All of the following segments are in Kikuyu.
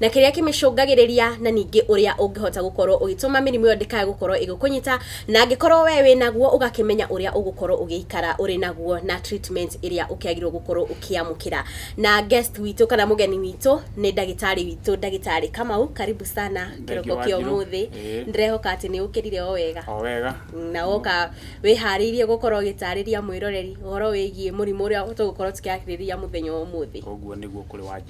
na kĩrĩa kĩmĩcũngagĩrĩria na ningĩ ũrĩa ũngĩhota gũkorwo ũgĩtũma mĩrimũ ĩyo ndĩkae gũkorwo ĩgĩkũnyita na angĩkorwo we wĩ naguo ũgakĩmenya ũrĩa ũgũkorwo ũgĩikara ũrĩ naguo na treatment ĩrĩa ũkĩagĩrĩirwo gũkorwo ũkĩamũkĩra na guest witũ kana mũgeni witũ nĩ ndagĩtarĩ witũ ndagĩtarĩ Kamau karibu sana kĩroko kĩa ũmũthĩ ndĩrehoka atĩ nĩ ũkĩrire o wega o wega na woka wĩharĩirie gũkorwo ũgĩtarĩria mwĩroreri ũhoro wĩgiĩ mũrimũ ũrĩa tũgũkorwo tũkĩarĩrĩria mũthenya wa ũmũthĩ ũguo nĩguo kũrĩ wanjĩra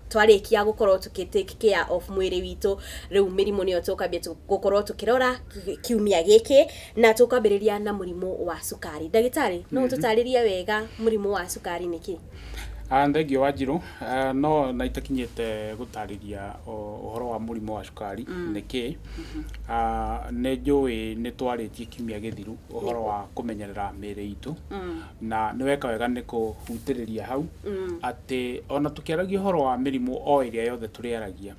twarĩkia gũkorwo tũkĩ take care of mwĩrĩ witũ rĩu mĩrimũ nĩyo tũkambia tũ- gũkorwo tũkĩrora ki- kiumia gĩkĩ na tũkwambĩrĩria na mũrimũ wa cukari ndagĩtarĩ no ũtũtarĩrie wega mũrimũ wa cukari nĩkĩ Ah, Thengiũ wa Njirũ, Ah, no na itakinyĩte gũtarĩria o- ũhoro wa mũrimũ wa cukari nĩkĩ Ah, nĩ njũĩ nĩ twarĩtie kiumia gĩthiru ũhoro wa kũmenyerera mĩĩrĩ itũ na nĩ weka wega nĩ kũhutĩrĩria hau atĩ ona tũkĩaragia ũhoro wa mĩrimũ o ĩrĩa yothe tũrĩaragia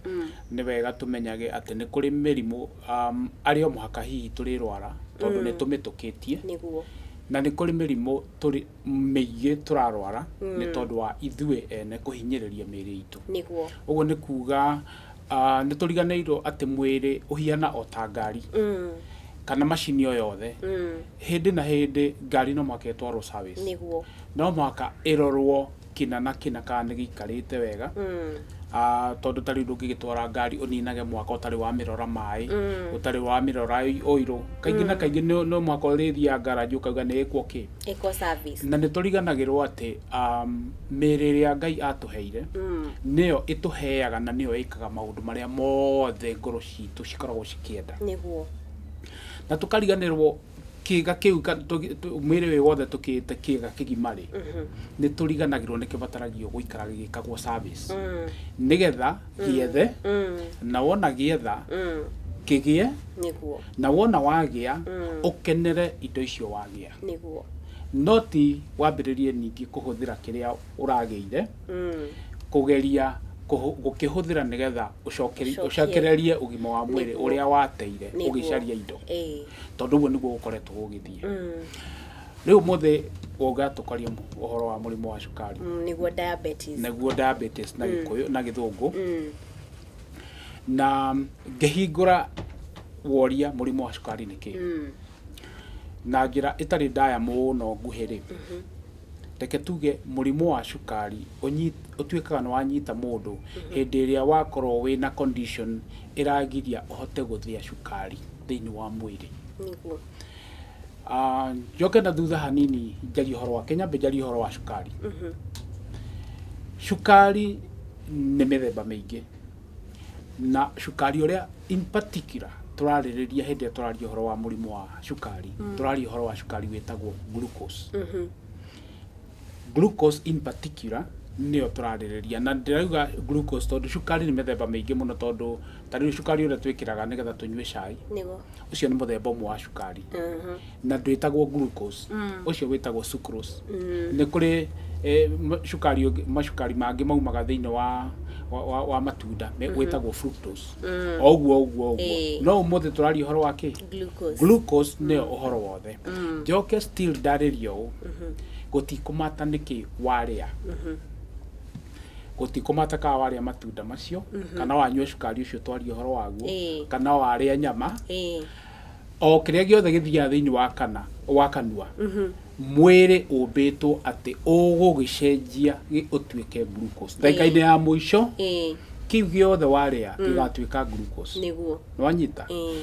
nĩ wega tũmenyage atĩ nĩ kũrĩ mĩrimũ um, arĩ o mũhaka hihi tũrĩrwara tondũ nĩ tũmĩtũkĩtie nĩguo na nĩ kũrĩ mĩrimũ tũrĩ mĩingĩ tũrarwara nĩ tondũ wa ithuĩ ene kũhinyĩrĩria mĩĩrĩ itũ nĩguo ũguo nĩ kuga Ah, nĩ tũriganĩirwo atĩ mwĩrĩ ũhiana o ta ngari kana macini o yothe hĩndĩ na hĩndĩ ngari no mũhaka ĩtwarwo service nĩguo no mũhaka ĩrorwo kĩna na kĩna kana nĩ gĩikarĩte wega Ah, tondũ ta rĩu ndũngĩgĩtwara ngari ũninage mwaka ũtarĩ wamĩrora maĩ ũtarĩ wamĩrora ĩ- ũirũ kaingĩ na kaingĩ no no mũhaka ũrĩthiaga ngaraji ũkauga nĩ ĩkwo kĩ ĩko service na nĩ tũriganagĩrwo atĩ um, mĩĩrĩ ĩrĩa ngai atũheire nĩyo ĩtũheaga na nĩyo ĩkaga maũndũ marĩa mothe ngoro citũ cikoragwo cikĩenda nĩguo na tũkariganĩrwo kĩga kĩu ka- tũgi- tũ- mwĩrĩ ũyũ wothe tũkĩte kĩga kĩgima rĩ nĩ tũriganagĩrwo nĩ kĩbataragio gũikara gĩgĩkagwo service nĩgetha gĩethe na wona gĩetha kĩgĩe nĩguo na wona wagĩa ũkenere indo icio wagĩa nĩguo. Noti wambĩrĩrie ningĩ kũhũthĩra kĩrĩa ũragĩire, kũgeria gũkĩhũthĩra nĩgetha ũcokererie ũgima wa mwĩrĩ ũrĩa wateire ũgĩcaria indo, tondũ ũguo nĩguo gũkoretwo gũgĩthiĩ. Rĩu ũmũthĩ ũka tũkarie ũhoro wa mũrimũ wa cukari, nĩguo diabetes, nĩguo diabetes na gĩkũyũ, na gĩthũngũ, na ngĩhingũra woria mũrimũ wa cukari nĩ kĩĩ? Na njĩra ĩtarĩ ndaya mũno nguhĩ-rĩ, reke tuge mũrimũ wa cukari ũtuĩkaga nĩ wanyita mũndũ hĩndĩ ĩrĩa wakorwo wĩna condition ĩragiria ũhote gũthĩa cukari thĩiniĩ wa mwĩrĩ. Njoke na thutha hanini njarie ũhoro wake, nyambe njarie ũhoro wa cukari. Cukari nĩ mĩthemba mĩingĩ. na cukari ũrĩa in particular tũrarĩrĩria hĩndĩ ĩrĩa tũraria ũhoro wa mũrimũ wa cukari tũraria ũhoro wa cukari wĩtagwo glucose glucose in particular nĩyo tũrarĩrĩria na ndĩrauga glucose tondũ cukari nĩ mĩthemba mĩingĩ mũno tondũ ta rĩu cukari ũrĩa twĩkĩraga nĩgetha tũnyue cai nĩguo ũcio nĩ mũthemba ũmwe wa cukari na ndwĩtagwo glucose ũcio wĩtagwo sucrose nĩ kũrĩ eh, ma- cukari ũngĩ- macukari mangĩ maumaga thĩinĩ wa wa- wa, wa matunda me- wĩtagwo fructose o ũguo o ũguo o ũguo Ĩĩ. no ũmũthĩ tũraria ũhoro wa kĩ Glucose. glucose nĩyo ũhoro wothe njoke still ndarĩrie ũũ gũtikũmata nĩkĩ warĩa gũtikũmata kana warĩa matunda macio kana wanyua cukari ũcio twaria ũhoro waguo Ĩĩ. kana warĩa nyama Ĩĩ. o kĩrĩa gĩothe gĩthiaga thĩinĩ wa kana wa kanua mwĩrĩ ũmbĩtwo atĩ ũgũgĩcenjia gĩ- ũtuĩke glucose ndagĩka-inĩ ya mũico Ĩĩ. kĩu gĩothe warĩa gĩgatuĩka glucose nĩguo nĩwanyita Ĩĩ.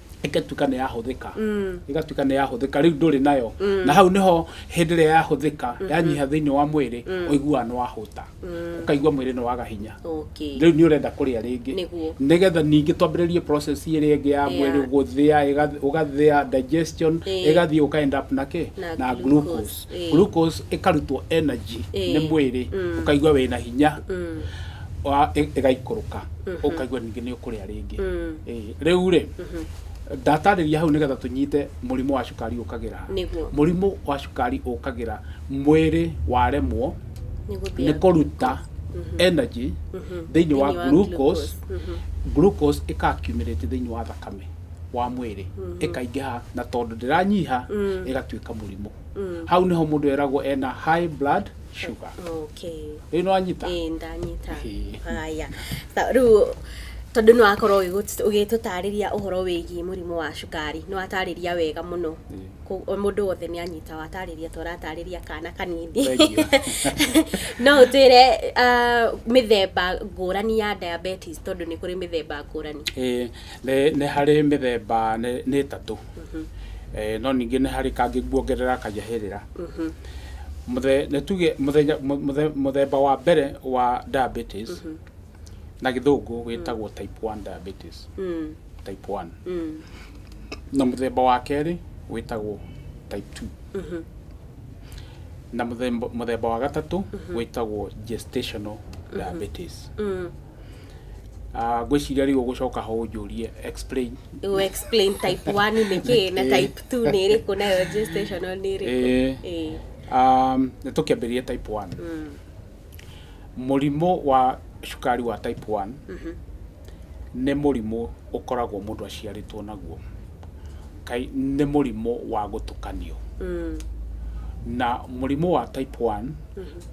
ĩgatuĩka nĩ yahũthĩka ĩgatuĩka nĩ yahũthĩka rĩu ndũrĩ nayo na hau nĩho hĩndĩ ĩrĩa yahũthĩka yanyiha thĩinĩ wa mwĩrĩ ũiguaga nĩ wahũta ũkaigua mwĩrĩ nĩ waga hinya okay rĩu nĩ ũrenda kũrĩa rĩngĩ Nĩguo. nĩgetha ningĩ twambĩrĩrie process ĩrĩa ĩngĩ ya mwĩrĩ gũthĩa ĩgath- ũgathĩa digestion Ĩĩ. ĩgathiĩ ũka end up na kĩ Na na glucose. glucose Ĩĩ. glucose ĩkarutwo energy Ĩĩ. nĩ mwĩrĩ Mm. ũkaigua wĩna hinya Mm. wa- ĩ- ĩgaikũrũka ũkaigua ningĩ nĩ ũkũrĩa rĩngĩ Mm. Ĩĩ. rĩu rĩ ndatarĩria hau nĩgetha tũnyite mũrimũ wa cukari ũkagĩra ha. Nĩguo. mũrimũ wa cukari ũkagĩra mwĩrĩ waremwo Nĩ nĩ gũthĩa. kũruta energy thĩinĩ wa Thĩinĩ wa glucose glucose. Mhm. glucose ĩka accumulate thĩinĩ wa thakame wa mwĩrĩ ĩkaingĩha na tondũ ndĩranyiha ĩgatuĩka mũrimũ hau nĩho mũndũ eragwo ena high blood sugar okay rĩu nĩ wanyita ĩĩ ndanyita Ĩĩ. haya Ta- rĩu tondũ nĩ wakorwo ũgĩgũ- ũgĩtũtarĩria ũhoro wĩgiĩ mũrimũ wa cukari nĩ watarĩria wega mũno Ĩĩ. Kũ- o mũndũ wothe nĩ anyita watarĩria ta ũratarĩria kana kanini Thengiũ. no ũtwĩre ah, mĩthemba ngũrani ya diabetes tondũ nĩ kũrĩ mĩthemba ngũrani Ĩĩ, Nĩ harĩ mĩthemba nĩ ĩtatũ, no ningĩ nĩ harĩ kangĩ nguongerera kanyahĩrĩra. Nĩ tuge mũthemba wa mbere wa diabetes na gĩthũngũ wĩtagwo type one diabetes, type one. Na mũthemba wa kerĩ wĩtagwo type two. Na mũthemba wa gatatũ wĩtagwo gestational diabetes. Ah, ngwĩciria rĩu ũgũcoka ho ũnjũrie explain u explain type 1 nĩ kĩ na type 2 nĩ ĩrĩkũ nayo gestational nĩ ĩrĩkũ Eh. Eh. Um, nĩ tũkĩambĩrĩria type 1 mũrimũ wa cukari wa type 1 nĩ mũrimũ ũkoragwo mũndũ aciarĩtwo naguo kai nĩ mũrimũ wa gũtũkanio na mũrimũ wa type 1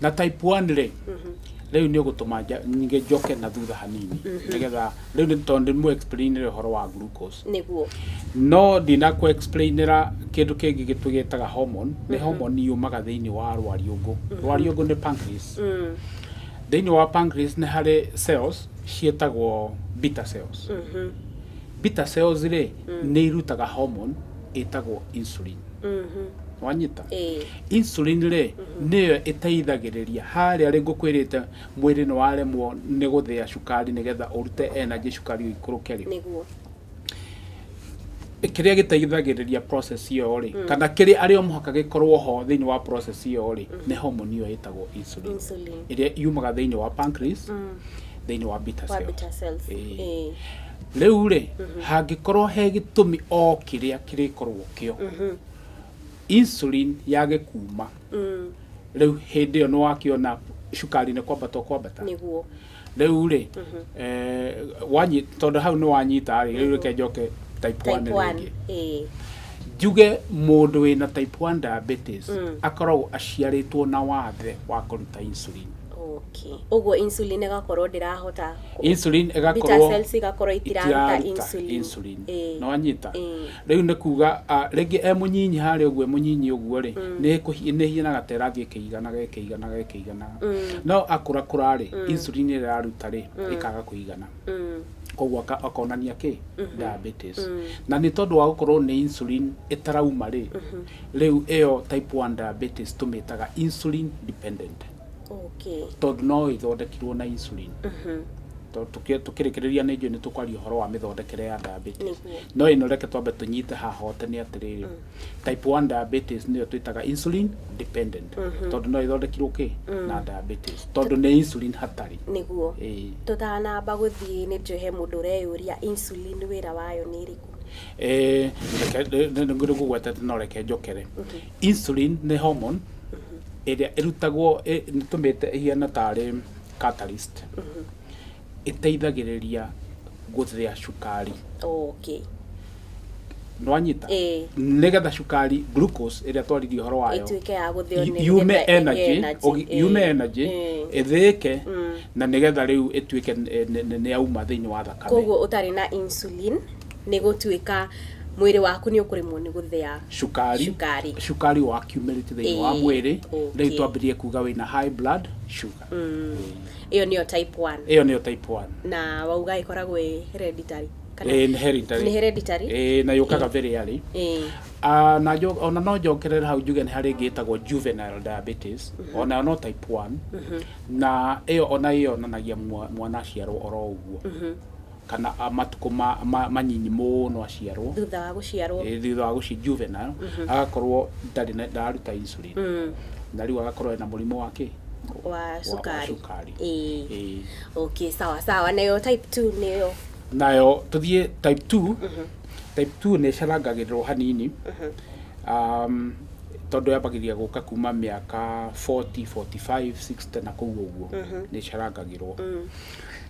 na type 1 rĩ rĩu nĩ ũgũtũma nja- nyige njoke na thutha hanini nĩgetha rĩu nĩ tondũ ndĩmũ explain rĩ ũhoro wa glucose nĩguo no ndinakũ explainĩra kĩndũ kĩngĩ gĩtũ gĩtaga hormone nĩ hormone yumaga thĩinĩ wa rwariũngũ rwariũngũ nĩ pancreas thĩinĩ wa pancreas nĩ harĩ cells ciĩtagwo beta cells beta cells rĩ nĩ irutaga hormone ĩtagwo insulin wanyita insulin rĩ nĩyo ĩteithagĩrĩria harĩa rĩ ngũkwĩrĩte mwĩrĩ nĩ waremwo nĩ gũthĩa cukari nĩgetha ũrute energy cukari ũikũrũke rĩ kĩrĩa gĩteithagĩrĩria process ĩyo rĩ kana kĩrĩa arĩ o mũhaka gĩkorwo ho thĩinĩ wa process ĩyo rĩ nĩ homoni ĩyo ĩtagwo insulin ĩrĩa yumaga thĩinĩ wa pancreas thĩinĩ wa beta cells rĩu rĩ hangĩkorwo he gĩtũmi o kĩrĩa kĩrĩkorwo kĩo insulin yage kuma rĩu hĩndĩ ĩyo nĩ wakĩona cukari nĩ kwambata ũkwambata nĩguo rĩu rĩ eh, wanyi- tondũ hau nĩ wanyita rĩ rĩu reke njoke type 1 type 1 rĩngĩ eh njuge mũndũ wĩna type 1 diabetes akoragwo aciarĩtwo na wathe wa kũruta insulin okay ũguo insulin ĩgakorwo ndĩrahota kũ- insulin beta ĩgakorwo cells igakorwo itiraruta itiraruta insulin insulin Eh. nĩ wanyita Eh. Rĩu nĩ kuuga a, rĩngĩ e mũnyinyi harĩa ũguo, e mũnyinyi ũguo rĩ, nĩ kũhi- nĩ hianaga ta ĩrathiĩ ĩkĩiganaga ĩkĩiganaga ĩkĩiganaga. No akũrakũra rĩ, insulin ĩrĩa ĩraruta rĩ, ĩkaga kũigana. Koguo aka- akonania kĩ? Diabetes. Na nĩ tondũ wa gũkorwo nĩ insulin ĩtarauma rĩ, rĩu ĩyo type one diabetes tũmĩtaga insulin dependent. okay. tondũ no ĩthondekirwo na insulin To- tũkĩ- tũkĩrĩkĩrĩria nĩ njũĩ nĩ tũkwaria ũhoro wa mĩthondekere ya diabetes Nĩguo. no ĩno reke twambe tũnyite haha hote nĩ atĩrĩrĩ type 1 diabetes nĩyo twĩtaga insulin dependent tondũ no ĩthondekirwo kĩ na diabetes tondũ nĩ insulin hatarĩ nĩguo Ĩĩ. tũtanamba gũthiĩ nĩ njũĩ he mũndũ ũreyũria insulin wĩra wayo nĩ ĩrĩkũ Eh, reke- nĩ- nĩ- nĩ ngũgwetete no reke njokere Insulin nĩ hormone ĩrĩa ĩrutagwo ĩ- nĩtũmĩte ĩhiana tarĩ catalyst ĩteithagĩrĩria gũthĩa cukari okay nwanyita Ĩĩ. nĩgetha cukari glucose ĩrĩa twaririe ũhoro wayo ĩtuĩke ya gũthĩo nĩ- yume nĩgetha ĩgĩe energy energy. ũgi- Ĩĩ. yume energy Ĩĩ. ĩthĩĩke na nĩgetha rĩu ĩtuĩke nĩ- nĩ nĩ yauma thĩinĩ wa thakame koguo ũtarĩ na insulin nĩ gũtuĩka mwĩrĩ waku nĩ ũkũremwo nĩ gũthĩa cukari cukari. cukari wa accumulate thĩinĩ wa Ĩĩ, mwĩrĩ okay. rĩu twambĩrĩrie kuga wĩna high blood sugar ĩyo nĩyo type 1 ĩyo nĩyo type 1 na wauga ĩkoragwo ĩ hereditary kana Ĩĩ, nĩ hereditary. Nĩ hereditary? Ĩĩ, na yũkaga very early Ĩĩ. Ah, na njo- ona no njokerere hau njuge nĩ harĩ ĩngĩ ĩtagwo juvenile diabetes onayo no type 1 na ĩyo ona ĩyonanagia mwa- mwana aciarwo oro ũguo kana matukũ manyinyi mũno aciarwo, thutha wa gũciarwo, thutha wa gũciarwo, juvenile, agakorwo ndarĩ na, ndararuta insulin, na rĩu agakorwo ena mũrimũ wa kĩ? wa cukari, ĩĩ, okay, sawa sawa, nayo type two nĩyo? nayo tũthiĩ type two, type two nĩ ĩcarangagĩrĩrwo hanini, tondũ yambagĩrĩria gũka kuma mĩaka forty, forty five, sixty na kũu ũguo, nĩ ĩcarangagĩrwo.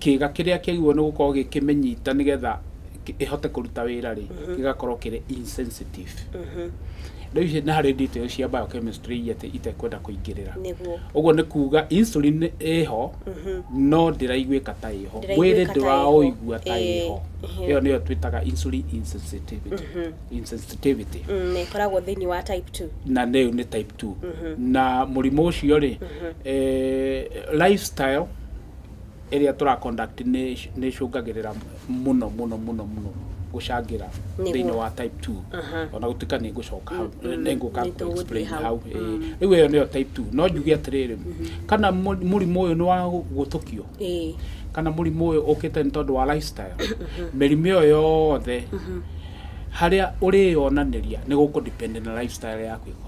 kĩga kĩrĩa kĩagĩrĩirwo nĩ gũkorwo gĩkĩmĩnyita nĩgetha ĩhote kũruta wĩra rĩ mhm. gĩgakorwo kĩrĩ insensitive mhm. rĩu ici nĩ harĩ details cia biochemistry iria itekwenda kũingĩrĩra ũguo nĩ kuga insulin ĩho mhm. no ndĩraiguĩka ta ĩho mwĩrĩ ndũraũigua ta ĩho ĩyo nĩyo twĩtaga insulin insensitivity insensitivity mm, na ĩkoragwo thĩinĩ wa type 2 na nĩyo nĩ type 2 na mũrimũ ũcio rĩ eh, lifestyle ĩrĩa tũra conduct nĩ nĩ ĩcũngagĩrĩra mũno mũno mũno mũno gũcangĩra Nĩguo. thĩinĩ wa type 2 Aha. ona gũtuĩka nĩ ngũcoka hau nĩ ngũka Nĩ tũgũthiĩ explain hau. hau ĩĩ. rĩu ĩyo nĩyo type 2 no njuge atĩrĩrĩ kana mũ- mũrimũ ũyũ nĩ wa gũtũkio ĩĩ kana mũrimũ ũyũ ũkĩte nĩ tondũ wa lifestyle mĩrimũ ĩyo yothe harĩa ũrĩyonanĩria nĩ gũkũ depend na lifestyle yaku ĩkoragwo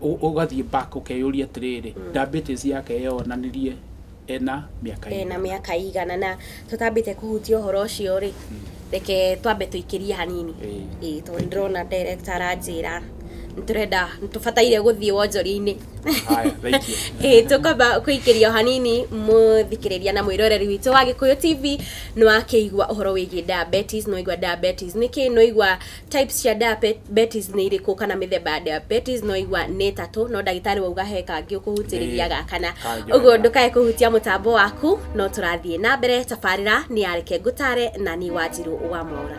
Ũgathiĩ back ũkeyũria atĩrĩrĩ, diabetes yake yeyonanirie ena mĩaka ĩigana? Ena mĩaka ĩigana. Na tũtambĩte kũhutia ũhoro ũcio rĩ, reke twambe tũikĩrie hanini. Ĩĩ tondũ nĩ ndĩrona director aranjĩra nĩ tũrenda, nĩ tũbataire gũthiĩ wonjoria-inĩ. Ĩĩ tũkwamba kũikĩria o hanini mũthikĩrĩria na mwĩroreri witũ wa Gĩkũyũ TV. Nĩ wakĩigua ũhoro wĩgiĩ diabetes, nĩ waigua diabetes nĩ kĩĩ, nĩ waigua... Types cia diabetes nĩ irĩkũ kana mĩthemba ya diabetes no igua nĩ ĩtatũ no ndagĩtarĩ wauga he kangĩ ũkũhutĩrĩria ga kana ũguo ndũkae kũhutia mũtambo waku no tũrathiĩ na mbere tabarĩra nĩ yareke ngũtare na niĩ wanjirũ wa mwaura